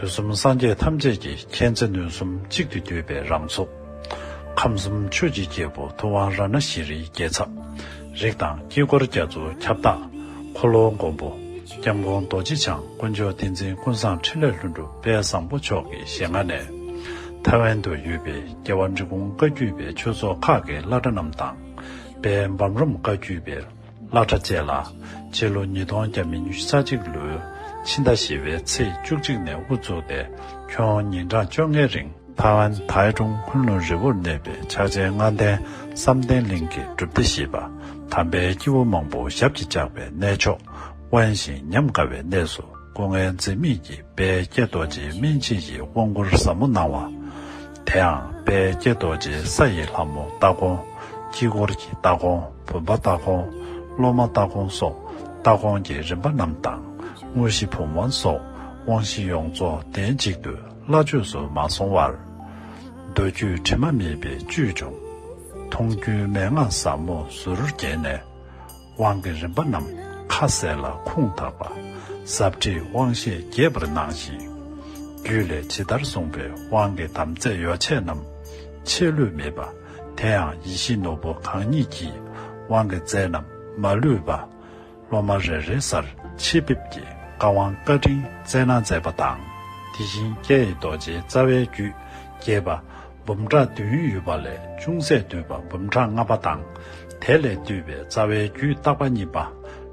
དུས་གསུམ་སངས་རྒྱས་ཐམས་ཅད་ཀྱི་མཁྱེན་བརྩེ་ནུས་གསུམ་གཅིག་ཏུ་བསྡུས་པའི་རང་ཚོགས། ཁམས་གསུམ་ཆོས་ཀྱི་རྒྱལ་པོ་ཐུབ་དབང་ར་ན་ཤི་རིའི་རྒྱལ་ཚབ། རིགས་དང་དཀྱིལ་འཁོར་རྒྱ་མཚོ་ཁྱབ་བདག། འཁོར་ལོ་མགོན་པོ། སྐྱབས་མགོན་རྡོ་རྗེ་འཆང་དཀོན་མཆོག་ཏིང་འཛིན་ཀུན་བཟང་ཕྲིན་ལས་ལྷུན་གྲུབ་དཔལ་བཟང་པོ་མཆོག་གི་ཞལ་སྔ་ནས། ཐའེ་ཝན་དུ་ཡོད་པའི་རྒྱལ་བ་འབྲི་གུང་བཀའ་བརྒྱུད་པའི་ཆོས་ཚོགས་ཁག་གི་བླ་གྲྭ་རྣམས་དང། དཔལ་འབམ་རོམ་བཀའ་བརྒྱུད་པའི། བླ་གྲྭ་བཅས་ལ་སྤྱི་ལོ་ཉིས་སྟོང་བརྒྱ་མི་ཉུ་ས་གཅིག་ལོའི་ཕྱི་ཟླ་བཞི་བའི་ཚེས་བཅུ་གཅིག་ནས་དབུ་བཙུགས་ཏེ་ཁྱོན་ཉིན་གྲངས་བཅོ་ལྔའི་རིང། ཐའེ་ཝན་ཐའེ་ཀྲུང་ཁུལ་ནུ་རི་བོར་གནས་པའི་ཕྱག་ཆེན་ལྔ་ལྡན་བསམ་གཏན་གླིང་གི་སྒྲུབ་སྡེ་ཞེས་པ་དམ་པའི་སྐྱེ་བོ་མང་པོ་ཞབས་ཀྱིས་བཅགས་པའི་གནས་མཆོག་དབེན་ཞིང་ཉམས་དགའ་བའི་གནས་སུ་སྐུ་ངལ་འཛེམ་མེད་ཀྱིས་དཔལ་ཀྱེ་རྡོ་རྗེའི་སྨིན་བྱེད་ཀྱི་དབང་བསྐུར་ཟབ་མོ་གནང་བ། དེའང་དཔལ་ཀྱེ་རྡོ་རྗེ་ས་ཡི་ལྷ་མོ་སྟ་གོན། དཀྱིལ་འཁོར་གྱི་སྟ་གོན་བུམ་པ་སྟ་གོན། སློབ་མ་སྟ་གོན་སོགས་སྟ་གོན་གྱི་རིམ་པ་རྣམས་དང། དངོས་གཞི་བུམ་དབང་སོགས་དབང་བཞི་ཡོངས་རྫོགས་གདན་གཅིག་ཏུ་སླ་བཅོས་སུ་མ་སོང་བར། མདོ་རྒྱུད་དྲི་མ་མེད་པའི་བཅུད་འབྱུང། མཐོང་རྒྱུའི་མན་ངག་ཟབ་མོ་ཟུར་བརྒྱན་ནས། དབང་གི་རིམ་པ་རྣམས་ཁ་ཟས་ལ་ཁུངས་དག་པ། ཟབ་ཁྲིད་དབང་བཤད་རྒྱས་པར་གནང་ཞིང། རྒྱུད་ལས་ཇི་ལྟར་གསུངས་པའི་དབང་གི་དམ་རྫས་ཡོ་བྱད་རྣམས། ཆད་ལུས་མེད་པ། དེའང་ཡིད་བཞིན་ནོར་བུ་གང་ཉིད་ཀྱི། དབང་གི་རྫས་རྣམས་མ་ལུས་པ། སློབ་མ་རེ་རེའི་སར་ཆིབས་འབེབས་ཀྱི་བཀའ་དབང་བཀའ་དྲིན་བསྩལ་གནང་མཛད་པ་དང། དེ་བཞིན་ཀྱེ་ཡི་རྡོ་རྗེའི་རྩ་བའི་རྒྱུད་རྒྱས་པ། འབུམ་ཕྲག་བདུན་ཡོད་པ་ལས་ཅུང་ཟད་བསྡུས་པ་འབུམ་ཕྲག་ལྔ་པ་དང། དེ་ལས་བསྡུས་པའི་རྩ་བའི་རྒྱུད་རྟག་པ་གཉིས་པ།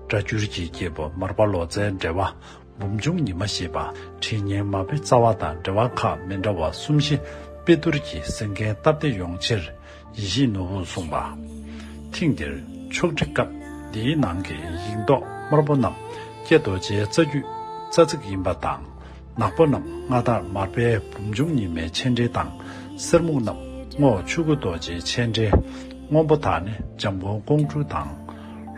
སྒྲ་སྦྱོར་གྱི་སྐྱེས་བུ་མར་པ་ལོ་ཙཱའི་འགྲེལ་བ། འབུམ་འབྱུང་ཉི་མ་ཞེས་པ་ཁྲི་སྙན་མ་བུའི་རྩ་བ་དང་འགྲེལ་བ་ཁག་མི་འདྲ་བ་གསུམ་བཞི་དཔེ་བསྡུར་གྱིས་གཟིགས་མཁན་སྟབས་བདེ་ཡོང་ཕྱིར་ཡིད་བཞིན་ནོར་བུ་གསུངས་པ། ཐེངས་འདིར་ཕྱོགས་སྒྲིག་སྐབས་འདིའི་ནང་གི་ཡིག་མདོག་དམར་པོ་རྣམས་ཀྱེ་རྡོ་རྗེའི་རྩ་རྒྱུད་རྩ་ཚིག་ཡིན་པ་དང། ནག་པོ་རྣམས་མངའ་བདག་མར་པའི་བུམ་ཆུང་ཉི་མའི་ཆས་འདྲིལ་དང། གསེར་སྨུག་རྣམས་སྔོ་བ་ཆུ་སྐུད་རྡོ་རྗེའི་ཆས་འདྲིལ། སྔོན་པོ་དག་ནི་འཇམ་མགོན་ཀོང་སྤྲུལ་དང།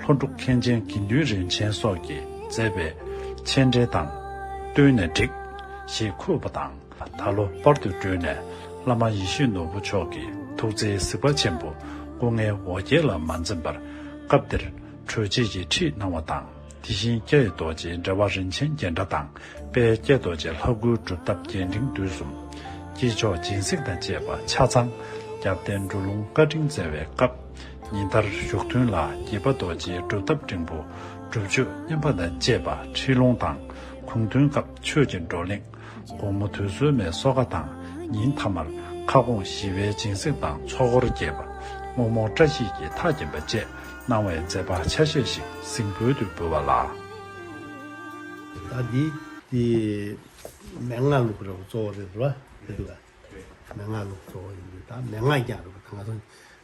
ལྷོ་འབྲུག་མཁན་ཆེན་དགེ་འདུན་རིན་ཆེན་སོགས་ཀྱིས་མཛད་པའི་ཆས་འདྲིལ་དང། བསྟོད་ནས་བསྒྲིགས། ཞེས་འཁོད་པ་དང། ད་ལོ་སྤར་དུ་བསྒྲོན་ནས་བླ་མ་ཡེ་ཤེས་ནོར་བུ་མཆོག་གི་ཐུགས་བརྩེའི་གཟིགས་པ་ཆེན་པོ་སྐུ་ལྔའི་འོ་བརྒྱལ་ལ་མ་འཛེམས་པར་སྐབས་དེར་གྲོལ་བྱེད་ཀྱི་ཁྲིད་གནང་བ་དང། དེ་བཞིན་སྐྱེད་རྡོ་རྗེའི་འགྲེལ་བ་རིན་ཆེན་རྒྱན་ཕྲ་དང་དཔལ་སྐྱེད་རྡོ་རྗེ་ལྷ་དགུའི་སྒྲུབ་ཐབས་རྒྱས་འབྲིང་བསྡུས་གསུམ། དཀྱིལ་ཆོག་སྦྱིན་སྲེག་དང་བཅས་པ་ཆ་ཚང། རྒྱབ་རྟེན་འབྲུ་ལུང་བཀའ་དྲིན་བསྩལ་བའི་སྐབས། ཉིན་ལྟར་བཞུགས་ཐུན་ལ་དགྱེས་པ་རྡོ་རྗེའི་སྒྲུབ་ཐབས་འབྲིང་པོ། སྒྲུབ་མཆོད་བསྙེན་པ་དང་བཅས་པ་ཁྲིད་ལུང་དང། གུང་ཐུན་སྐབས་ཆོས་ཀྱི་བགྲོ་གླེང། དགོང་མོ་དུས་སྲོལ་མའི་སོ་ཁ་དང་ཉིན་མཐའ་མར་ཁ་སྐོང་ཞི་བའི་སྦྱིན་སྲེག་དང་ཚོགས་འཁོར་རྒྱས་པ། བསྔོ་སྨོན་བཀྲ་ཤིས་ཀྱི་མཐའ་བརྒྱན་པ་བཅས་གནང་བའི་མཛད་པ་ཆ་ཤས་ཤིག་གཟིངས་འབུལ་དུ་འབུལ་བ་ལ། ཟླ་འདིའི་དེ། མན་ངག་ལུགས་རེད་བ་གཙོ་བོ་རེད་བ། རེད། མན་ངག་ལུགས་གཙོ་བོ་ཡིན་དུས་ད་མན་ངག་རྒྱག་རེད་བ་ད་ང་ཚོ